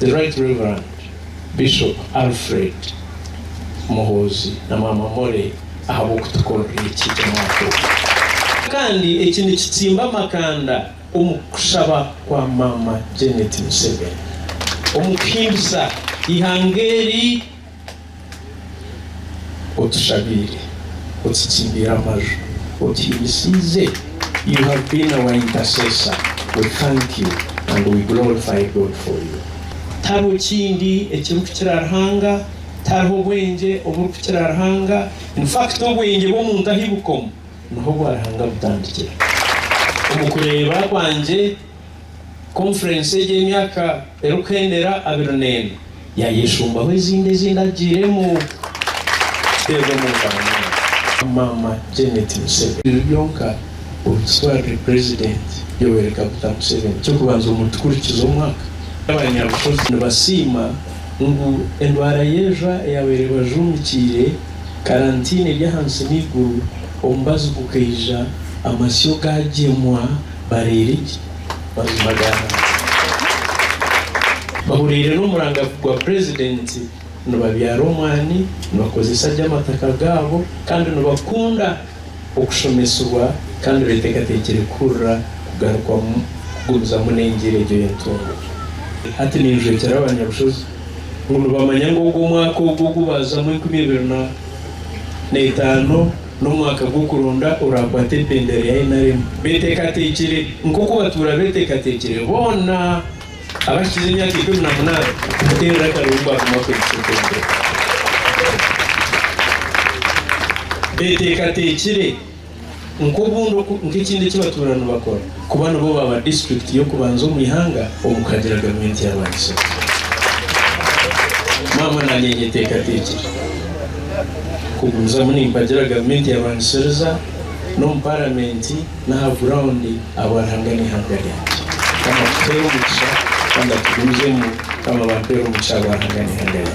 The Right Reverend Bishop Alfred Muhoozi na Maama Molly ahabw'okutukorera eki omwaka ogu. Kandi eki nikitsimba amakanda omu kushaba kwa Maama Janet Museveni omu kuhimbisa eihanga eri. otushabiire, otutsimbire amaju, otuhimisiize, you have been our intercessor, we thank you and we glorify God for you. Tihariho kindi ekirikukira Ruhanga, tihariho bwengye oburikukira Ruhanga, in fact obwengye bw'omuntu ahi bukomu niho obwa Ruhanga butandikira. Omu kureeba kwangye Konfurensi egi ey'emyaka erikuhendera abiri n'ena yaayeshumbaho ezindi ezi ndagiiremu. Tuteebe omu ngaro nyowe. Maama Janet Museveni. Ebyo byonka obitutwarire Purezidenti Yoweri Kaguta Museveni. Eky'okubanza omu tukurikiza omwaka, abanyabushozi nibasiima ngu endwara y'ejwa eyaabaire ebajuumikiire, karantiini eri ahansi n'eiguru, omubazi gukaija, amasyo gaagyemwa, bareera ki? Bajuba gaana ki? Bahuriire n'omuranga gwa Purezidenti, nibabyara omwani, nibakozesa gye amataka gaabo, kandi nibakunda okushomesibwa kandi beteekateekire kuhurira kugarukwamu kugumizamu n'engyera egyo y'entungo. Hati ninjwekyera abanyabushozi ngu nibamanya ngu ogwo mwaka ogwo ogu baazamu enkumi ibiri na etaano, N'omwaka gw'okuronda oraakwate ebendera ya NRM. Beteekateekire nk'oku batuura beteekateekire boona abahikize emyaka ikumi na munaana kumuteerera akaroori ngu agume akwegese ebendera. Beteekateekire nk'obundi nk'ekindi eki batuura nibakora. kuba nibo baaba disiturikiti y'okubanza omu ihanga omu kuhagira gavumenti ya Rwakiso. Maama naanye nyeteekateekire kugumizamu nimpagira gavumenti ya Rwanisiriza n'omu paramenti n'aha gurawundi ahabwa Ruhanga n'eihanga ryangye. Mukama atuheere omugisha kandi atugumizemu. Mukama abampeere omugisha ahabwa Ruhanga n'eihanga ryangye.